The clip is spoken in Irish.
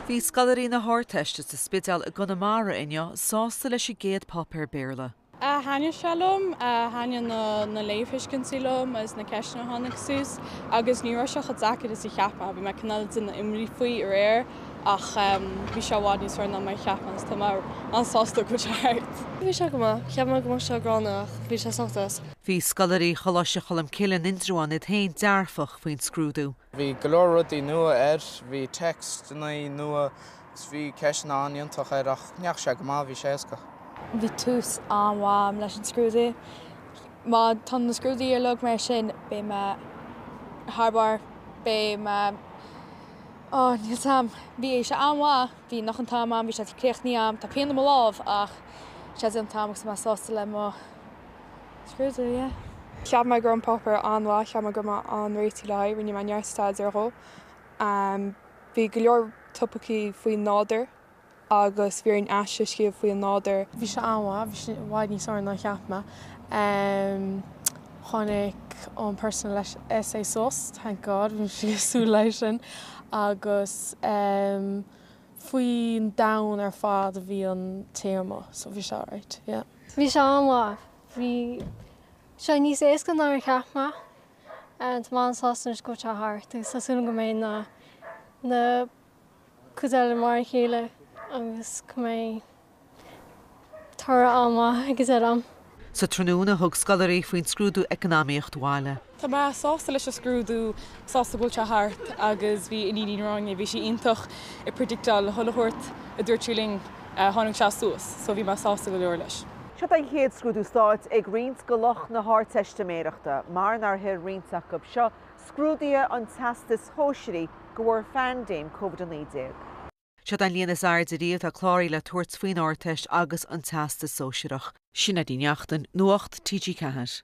Bhí scoláirí na hArdteiste sa Spidéal i gConamara inniu sásta leis an gcéad páipéar Béarla. Thaitnigh sé liom, thaitnigh na léamhthuiscintí liom agus na ceisteanna a tháinig suas agus ní raibh sé chomh deacair is a cheap mé. Bhí mé cineál imníoch faoi aréir ach bhí sé i bhfad níos fearr ná mar a cheap mé agus tá mé an-sásta go bhfuil sé thart. Bhí sé go maith. Cheap mé go mbeadh sé gránna ach bhí sé sách deas. Bhí scoláirí Choláiste Cholmcille in Indreabhán iad féin dearfach faoin scrúdú. Bhí go leor rudaí nua air, bhí téacsannaí nua 's bhí ceisteanna an-iontach air ach ndeachaigh sé go maith, bhí sé éasca. Bhí tús an-mhaith leis an scrúdú. Má tá na scrúdaithe ar fad mar sin, beidh mé thar barr, beidh mé, ó níl sam, bhí sé an-mhaith, bhí neart ama a'm, bhí sé críochnaithe a'm, tá pian i mo lámh ach sé an t-am agus tá mé sásta le mo. scrúdú, yeah. Cheap mé go raibh an páipéar an-mhaith, cheap mé go raibh mé an-réitithe le, rinne mé neart staidéir dhó. Bhí go leor topaicí faoin nádúr agus bhí orainn aiste a scríobh faoin nádúr. Bhí sé an-mhaith, bhí sé i bhfad níos fearr ná a cheap mé. Tháinig an personal essay suas, thank God, bhí mé ag súil leis sin, agus faoin domhan ar fad a bhí an téama, so bhí sé alright, yeah. Bhí sé an-mhaith. Bhí sé níos éasca ná a cheap mé. Tá mé an-sásta anois go bhfuil sé thart agus tá súil agam go mbeidh na na cinn eile mar a chéile agus go mbeidh toradh an-mhaith ag an deireadh. Sa tráthnóna thug scoláirí faoin scrúdú Eacnamaíocht Bhaile. Tá mé sásta leis an scrúdú, sásta go bhfuil sé thart agus bhí Iníon Uí Ráinne, bhí sí iontach ag predicteáil chuile ábhar, a dúirt sí linn, tháinig sé suas, so bhí mé sásta go leor leis. Seo é an chéad scrúdú stáit ag roinnt de lucht na hArdteistiméireachta, mar nár thug roinnt acu seo scrúduithe an Teastais Shóisearaí de bharr phaindéim Covid a naoi déag. Seo é an líon is airde riamh atá cláraithe le tabhairt faoin Ardteist agus an Teastas Sóisearach. Sinéad Ní Neachtain, Nuacht TG4.